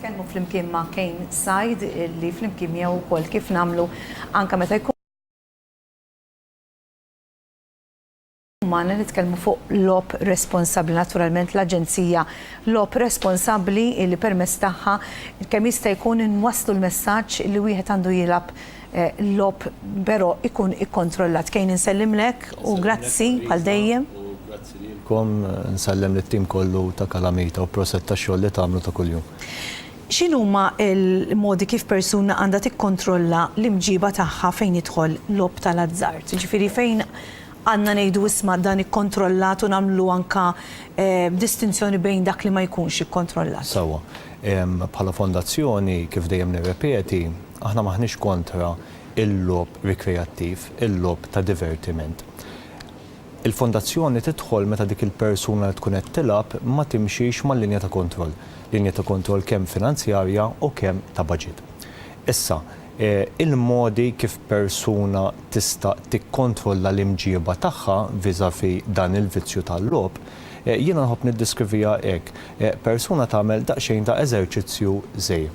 nitkellmu flimkien ma' Kane Sajd li flimkien miegħu wkoll kif nagħmlu anke meta jkun umana nitkellmu fuq logħob responsabbli. Naturalment l-Aġenzija logħob responsabbli li permezz tagħha kemm jista' jkun inwasslu l-messaġġ li wieħed għandu jilgħab logħob però jkun ikkontrollat. Kane insellimlek u grazzi bħal dejjem. Grazzi lilkom, insellem lit-tim kollu ta' Kalamita u proset tax-xogħol li tagħmlu ta' kuljum. X'inhuma l-modi kif persuna għandha tikkontrolla l-imġiba tagħha fejn jidħol logħob tal-azzard? Jiġifieri fejn Għandna ngħidu isma' dan ikkontrollat u nagħmlu anke distinzjoni bejn dak li ma jkunx ikkontrollat. Sewwa. Bħala Fondazzjoni, kif dejjem nirrepeti, aħna m'aħniex kontra il-logħob rikreattiv, il-logħob ta' divertiment. Il-Fondazzjoni tidħol meta dik il-persuna li tkun qed tilgħab ma timxix mal-linja ta' kontroll, linja ta' kontroll kemm finanzjarja u kemm ta' baġit. Issa, Il-modi kif persuna tista' tikkontrolla l-imġieba tagħha vis-à-vis dan il-vizzju tal-logħob, jiena nħobb niddeskriviha hekk, persuna tagħmel daqsxejn ta' eżerċizzju żgħir.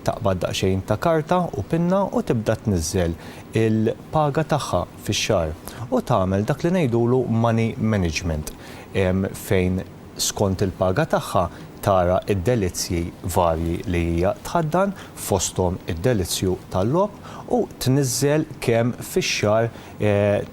Taqbad daqsxejn ta' karta u pinna u tibda tniżżel il-paga tagħha fix-xahar u tagħmel dak li ngħidulu money management fejn skont il-paga tagħha tara d-delizzji varji li hija tħaddan, fosthom id-delizzju tal-logħob, u tniżżel kemm fix-xahar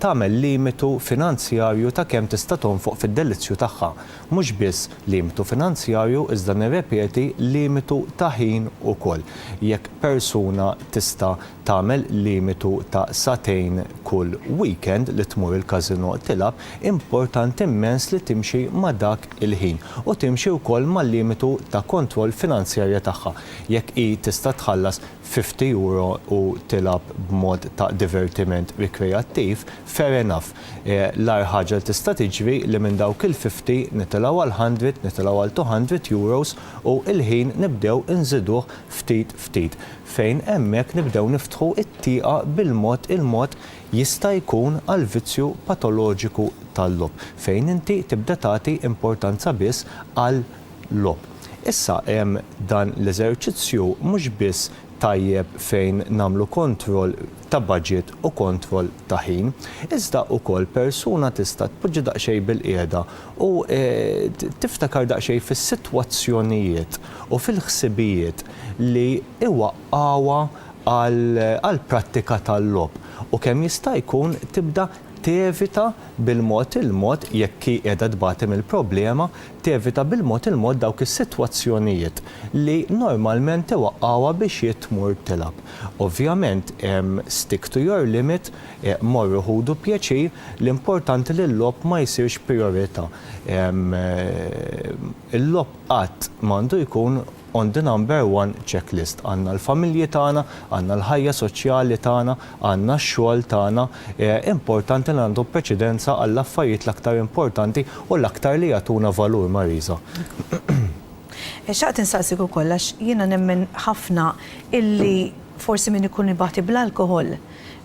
tagħmel limitu finanzjarju ta' kemm tista' tonfoq fid-delizzju tagħha. Mhux biss limitu finanzjarju iżda nirrepeti limitu ta' ħin ukoll. Jekk persuna tista' tagħmel limitu ta' sagħtejn kull weekend li tmur il-każinò tilgħab, importanti immens li timxi ma' dak il-ħin u timxi wkoll mal-limitu ta' kontroll finanzjarja tagħha, jekk hi tista' tħallas fifty euro u tilgħab b'mod ta' divertiment rikreattiv, fair enough. L-agħar ħaġa li tista' tiġri li minn dawk il-fifty nitilgħu għal hundred, nitilgħu għal two hundred euros u l-ħin nibdew inżiduh ftit ftit. fejn hemmhekk nibdew niftħu t-tieqa bil-mod il-mod jista' jkun għall-vizzju patoloġiku tal-logħob, fejn inti tibda tagħti importanza biss għal-logħob. Issa hemm dan l-eżerċizzju mhux biss tajjeb fejn nagħmlu kontroll ta' budget u kontroll ta' ħin, iżda ukoll persuna tista' tpoġġi daqsxejn bilqiegħda U tiftakar daqsxejn fis-sitwazzjonijiet u fil-ħsibijiet li iwaqqgħuha għall-prattika tal-logħob u kemm jista' jkun tibda tevita bil-mod il-mod, jekk hi qiegħda tbati mill-problema, tevita bil-mod il-mod dawk is-sitwazzjonijiet li normalment iwaqqgħuha biex hi tmur tilgħab. Ovvjament, stick to your limit, Morru ħudu pjaċir, l-importanti li l-logħob ma jsirx prijorità. Il-logħob qatt m'għandu jkun on the number one check list. Għandna l-familji tagħna, għandna l-ħajja soċjali tagħna, għandna x-xogħol tagħna. Importanti li nagħtu preċedenza għall-affarijiet l-aktar importanti u l-aktar li jagħtuna valur, Marisa. Xtaqt insaqsik ukoll għax jiena nemmen ħafna illi forsi min ikun ibati bl-alkoħol,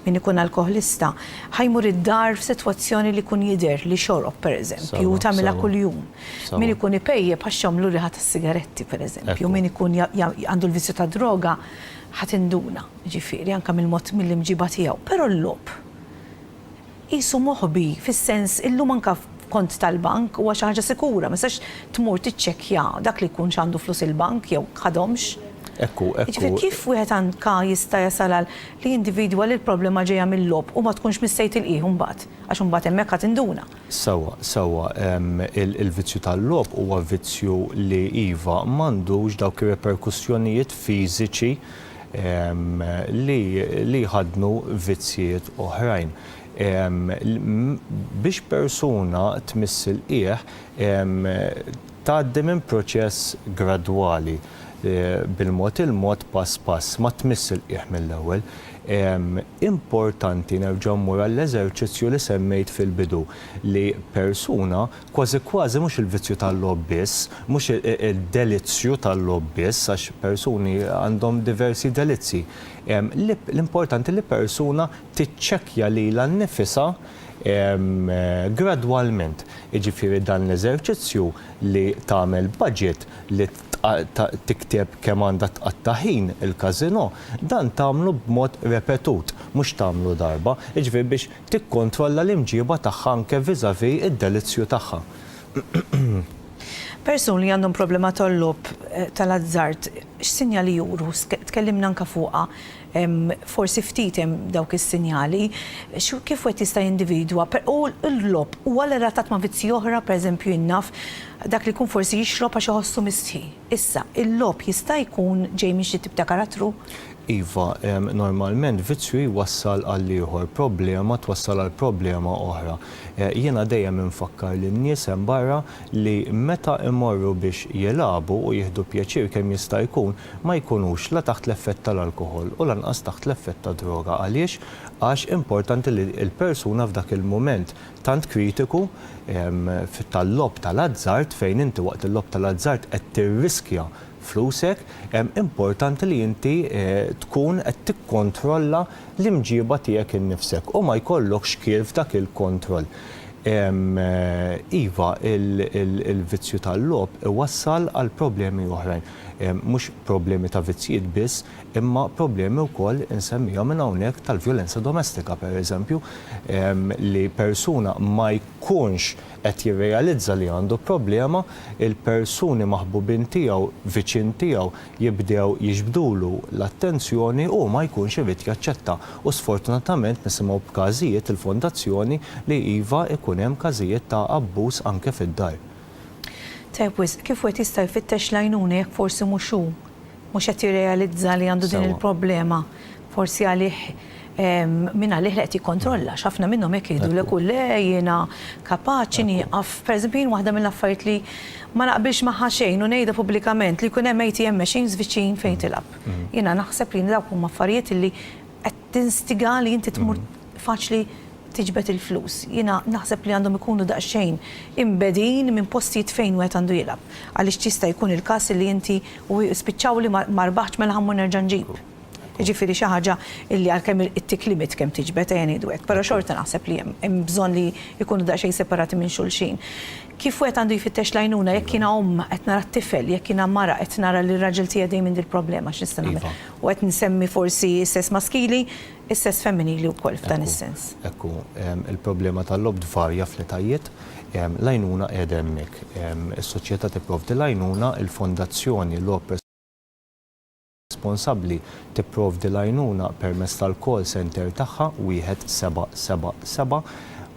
Min ikun alkoħlista ħa jmur id-dar f'sitwazzjoni li jkun jidher li xorob, pereżempju, u tagħmilha kuljum. Min ikun ipejjep ħa xxomm l riħa tas-sigaretti, pereżempju. Min ikun għandu l-vizzju tad-droga ħa tinduna, jiġifieri, anke mill-mod mill-imġiba tiegħu. Però l-logħob Qisu moħbi, fis-sens, illum anke kont tal-bank huwa xi ħaġa sikura, ma tistax tmur tiċċekkja dak li jkun x'għandu flus il-bank jew ħadhomx. Hekk hu, hekk hu. Jiġifieri kif wieħed anke jista' jasal għal li jindividwa li l-problema ġejja mil-logħob u ma tkunx mistej tilqih imbagħad, għax imbagħad hemmhekk ħa tinduna. Sewwa, sewwa, il-vizzju tal-logħob huwa vizzju li, iva, m'għandux dawk ir-reperkussjonijiet fiżiċi li jħaddnu vizzjiet oħrajn. Biex persuna tmiss il-qiegħ tgħaddi minn proċess gradwali, bil-mod il-mod, pass pass, ma tmiss il-qiegħ mill-ewwel. Importanti nerġa' mmur għall-eżerċizzju li semmejt fil-bidu li persuna Kważi kważi mhux il-vizzju tal-logħob biss, mhux id-delizzju tal-logħob biss, għax persuni għandhom diversi delizzji. L-importanti li persuna tiċċekkja lilha nnifisha gradwalment. Jiġifieri dan l-eżerċizzju li tagħmel budget, li tikteb kemm għandha tqatta' ħin il-każinò, dan tagħmlu b'mod repetut, mhux tagħmlu darba. Jiġifieri biex tikkontrolla l-imġiba tagħha anke vis-à-vis id-delizzju tagħha. Persuni li għandhom problema tal-logħob tal-azzard x'sinjali juru? Tkellimna anke fuqha, forsi ftit hemm dawk is-sinjali. Kif wieħed jista' jindividwa? U l-logħob huwa relatat ma' vizzji oħra? Per eżempju jien naf dak li jkun forsi jixrob għax iħossu mistħi. Issa, il-logħob jista' jkun ġej minn xi tip ta' karattru? Iva, normalment vizzju jwassal għal ieħor, problema twassal għal problema oħra. Jiena dejjem infakkar lin-nies hemm barra li meta imorru biex jilagħbu u jieħdu pjaċir kemm jista' jkun, ma jkunux la taħt l-effett tal-alkoħol u lanqas taħt l-effett tad-droga. Għaliex? Għax importanti li l-persuna f'dak il-mument tant kritiku tal-logħob tal-azzard fejn inti waqt il-logħob tal-azzard qed tirriskja flusek, importanti li inti tkun qed tikkontrolla l-imġieba tiegħek innifsek u ma jkollok xkiel f'dak il-kontroll. Iva, il-vizzju tal-logħob iwassal għal problemi oħrajn. Mhux problemi ta' vizzjiet biss, imma problemi wkoll, insemmihom minn hawnhekk, tal-vjolenza domestika, pereżempju, li persuna ma jkunx, qed jirrealizza li għandu problema, il-persuni maħbubin tiegħu, viċin tiegħu, jibdew jiġbdulu l-attenzjoni u hu ma jkunx irid jaċċetta. U sfortunatament nisimgħu b'każijiet il-Fondazzjoni li iva ikun hemm każijiet ta' abbuż anke fid-dar. Tajjeb wisq, kif wieħed jista' jfittex l-għajnuna jekk forsi mhux hu mhux qed jirrealizza li għandu din il-problema forsi għalih minn għalih li qed jikkontrolla x'ħafna minnhom hekk jgħidulek u le jiena kapaċi nieqaf pereżempju jien waħda mill-affarijiet li ma naqbilx magħha xejn u ngħidha pubblikament li jkun hemm ATM machines viċin fejn tilgħab. Jiena naħseb li dawk huma affarijiet li qed tinstiga li inti tmur faċli tiġbed il-flus. Jiena naħseb li għandhom ikunu daqsxejn imbegħdin minn postijiet fejn wieħed għandu jilgħab. Għaliex jista' jkun il-każ illi inti u spiċċaw li ma rbaħtx mela ħa mmur nerġa' nġib. Jiġifieri xi ħaġa illi għalkemm it-tick limit kemm tiġbed ejja ngħidu hekk, però xorta naħseb li hemm hemm bżonn li jkunu daqsxejn separati minn xulxin. Kif wieħed għandu jfittex l-għajnuna jekk jiena omm qed nara t-tifel, jekk jiena mara qed nara li r-raġel tiegħi dejjem għandi l-problema x'nista' nagħmel. U qed nsemmi forsi s-sess maskili, Is-sess femminili wkoll f'dan is-sens. Hekk hu. Il-problema tal-logħob tvarja fl-etajiet. L-għajnuna qiegħda hemmhekk. Is-soċjetà tipprovdi l-għajnuna, il-Fondazzjoni Logħob Responsabbli tipprovdi l-għajnuna permezz tal-call centre tagħha, 1777.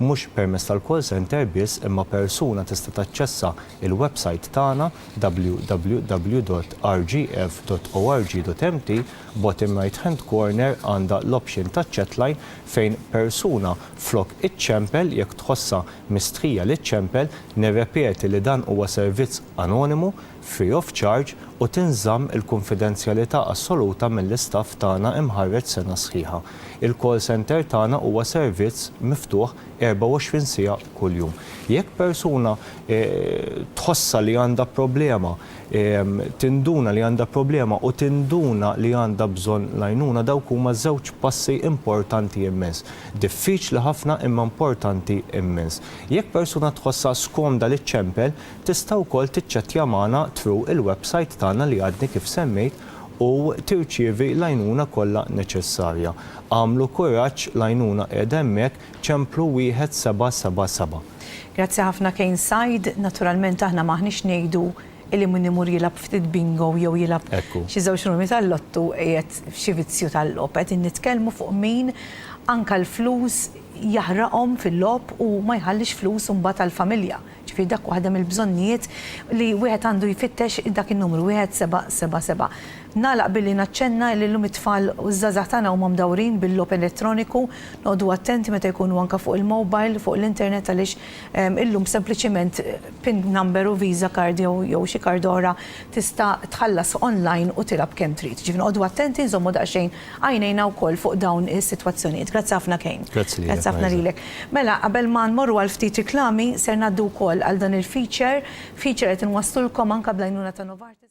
Mhux permezz tal-call centre biss imma persuna tista' taċċessa l-websajt tagħna www.rgf.org.mt. Bottom right hand corner għandha l-option ta' chat line fejn persuna flok iċċempel jekk tħossha mistħija li ċċempel, nirrepeti li dan huwa servizz anonimu, free of charge u tinżamm il-kunfidenzjalità assoluta mill-istaff tagħna imħarreġ sena sħiħa. Il-call center tagħna huwa servizz miftuħ 24 siegħa kuljum. Jekk persuna tħossha li għandha problema, tinduna li għandha problema u tinduna li għandha bżonn l-għajnuna, dawk huma żewġ passi importanti immens. Diffiċli ħafna imma importanti immens. Jekk persuna tħossha skomda li ċċempel, tista' wkoll tiċċettja magħna through il-website tagħna li għadni kif semmejt u tirċievi l-għajnuna kollha neċessarja. Agħmlu kuraġġ l-għajnuna qiegħda hemmhekk Ċemplu wieħed seba' seba' seba'. Grazzi ħafna Kane Said, naturalment aħna m'aħniex ngħidu illi min imur jilgħab ftit bingo jew jilgħab Ekku. xi żewġ numri tal-lottu qiegħed f'xi vizzju tal-logħob, qegħdin nitkellmu fuq min anka l-flus jaħraqhom fil-logħob u ma jħallix flus imbagħad għall-familja. Ġifieri dak waħda mill-bżonnijiet li wieħed għandu jfittex dak in-numru, wieħed seba' seba' seba'. Nagħlaq billi naċċenna li llum it-tfal u ż-żgħażagħ tagħna huma mdawrin bil-logħob elettroniku. Noqogħdu attenti meta jkunu anke fuq il-mobile, fuq l-internet għaliex illum sempliċiment pin number u visa card jew jew xi card oħra tista' tħallas online u tilgħab kemm trid. Ġifieri noqogħdu attenti nżommu daqsxejn Għajnejna wkoll fuq dawn is-sitwazzjonijiet. Grazzi ħafna Kane. Grazzi lilek, Marisa. Grazzi ħafna lilek. Mela, qabel ma nmorru għal ftit riklami, ser ngħaddu wkoll għal dan il-feature, feature li qed inwasslulkom anke bl-għajnuna ta' Novartis.